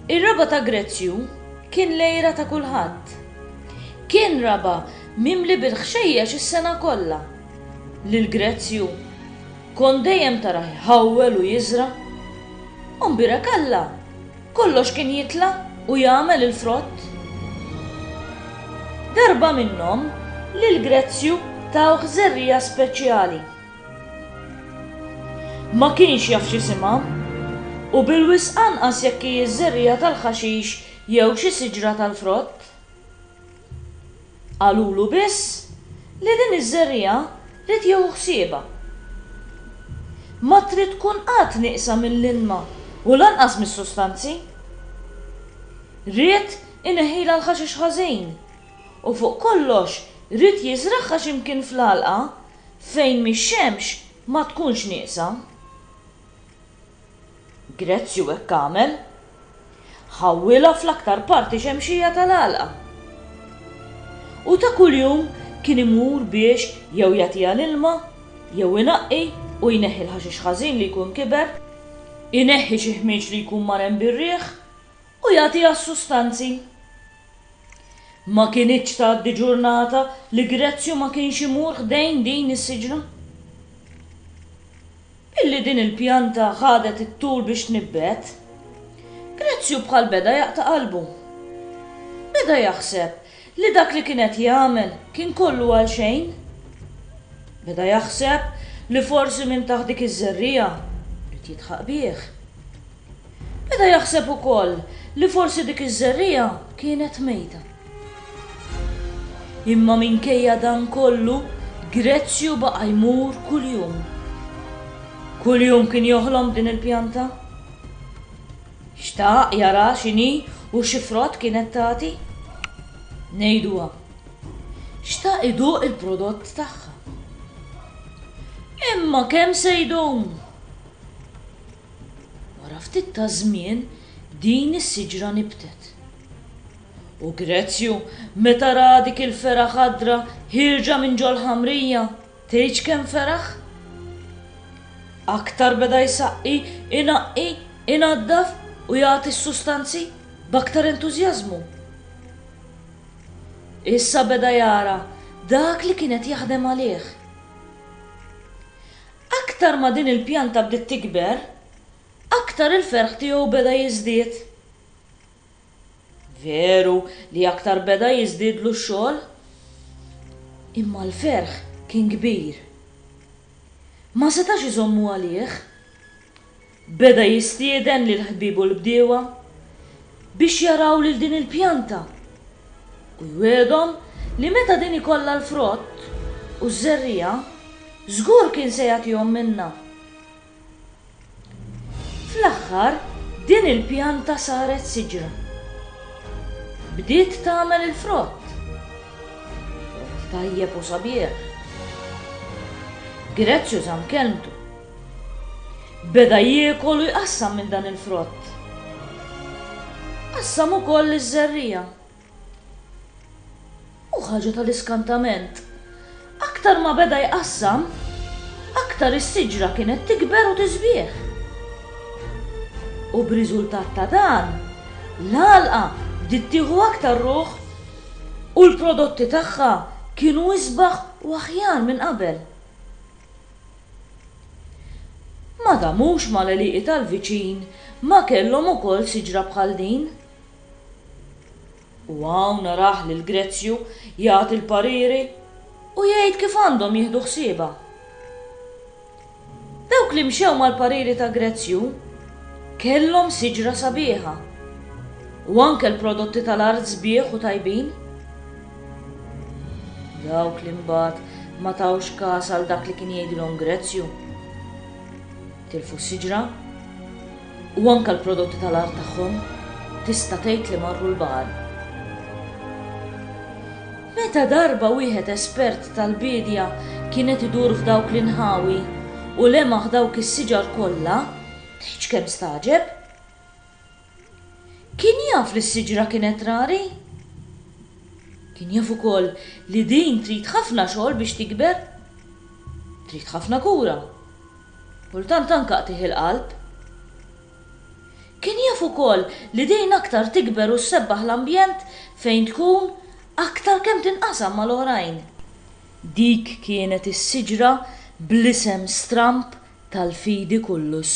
Ir-raba' ta' Grezju kien l-għira ta' kulħadd. Kien raba' mimli bil-ħxejjex is-sena kollha. Lil Grezju kont dejjem tarah iħawwel u jiżra'. U mbierek Alla! Kollox kien jitla' u jagħmel il-frott. Darba minnhom, lil Grezju tawh żerriegħa speċjali. Ma kienx jaf x'isimha, u bilwisq anqas jekk hi ż-żerriegħa tal-ħaxix jew xi siġra tal-frott. Qalulu biss li din iż-żerriegħa ried jieħu ħsiebha. Ma trid tkun qatt nieqsa mill-ilma u lanqas mis-sustanzi. Ried ineħħilha l-ħaxix ħażin u fuq kollox ried jiżragħha xi mkien fl-għalqa fejn mix-xemx ma tkunx nieqsa. Grezju hekk għamel. Ħawwilha fl-aktar parti xemxija tal-għalqa. U ta' kuljum kien imur biex jew jagħtiha l-ilma, jew inaqqi u jneħħi l-ħaxix ħażin li jkun kiber, ineħħi xi ħmieġ li jkun marem bir-riħ u jagħtiha s-sustanzi. Ma kinitx tgħaddi ġurnata li Grezju ma kienx imur ħdejn din is-siġra. Billi din il-pjanta ħadet it-tul biex tnibbet, Grezju bħal beda jaqta' qalbu. Beda jaħseb li dak li kien qed jagħmel kien kollu għal xejn. Beda jaħseb li forsi minn taħt dik iż-żerriegħa qed jidħaq bih. Beda jaħseb ukoll li forsi dik iż-żerriegħa kienet mejta. Imma minkejja dan kollu, Grezju baqa' jmur kuljum. Kuljum kien joħlom b'din il-pjanta. Xtaq jaraha x'inhi u xi frott kienet tagħti. Ngħiduha, xtaq iduq il-prodott tagħha. Imma kemm se jdum? Wara ftit ta' żmien din is-siġra nibtet. U Grezju, meta ra dik il-fergħa ħadra ħierġa minn ġol-ħamrija, tgħidx kemm feraħ? Aktar beda jsaqqi, inaqqi, inaddaf u jagħti s-sustanzi b'aktar entużjażmu. Issa beda jara dak li kien qed jaħdem għalih. Aktar ma din il-pjanta bdiet tikber, aktar il-ferħ tiegħu beda jiżdied. Veru li aktar beda jiżdiedlu x-xogħol, imma l-ferħ kien kbir. Ma setax iżommu għalih. Beda jistieden lil ħbiebu l-bdiewa biex jaraw lil din il-pjanta u jwiegħdhom li meta din ikollha l-frott u ż-żerriegħa, żgur kien se jagħtihom minnha. Fl-aħħar din il-pjanta saret siġra. Bdiet tagħmel il-frott. Frott tajjeb u sabiħ. Grezju żamm kelmtu. Beda jiekol u jqassam minn dan il-frott. Qassam ukoll iż-żerriegħa. U ħaġa tal-iskantament, aktar ma beda jqassam, aktar is-siġra kienet tikber u tiżbieh. U b'riżultat ta' dan, l-għalqa bdiet tieħu aktar ruħ u l-prodotti tagħha kienu isbaħ u aħjar minn qabel. Ma damux mal-għelieqi tal-viċin ma kellhom ukoll siġra bħal din? U hawn narah lil Grezju jagħti l-pariri u jgħid kif għandhom jieħdu ħsiebha. Dawk li mxew mal-pariri ta' Grezju kellhom siġra sabiħa u anke l-prodotti tal-art sbieħ u tajbin. Dawk li mbagħad ma tawx kas għal dak li kien jgħidilhom Grezju. Tilfu s-siġra u anke l-prodotti tal-art tagħhom tista' tgħid li marru l-baħar. Meta darba wieħed espert tal-biedja kienet idur f'dawk l-inħawi u lemaħ dawk is-siġar kollha, tgħidx kemm staġeb. Kien jaf li s-siġra kienet rari. Kien jaf ukoll li din trid ħafna xogħol biex tikber. Trid ħafna kura. Kultant anke qtigħ il-qalb. Kien jaf ukoll li din aktar tikber u ssebbaħ l-ambjent fejn tkun aktar kemm tinqasam mal-oħrajn. Dik kienet is-siġra bl-isem stramb tal-fidi kullus.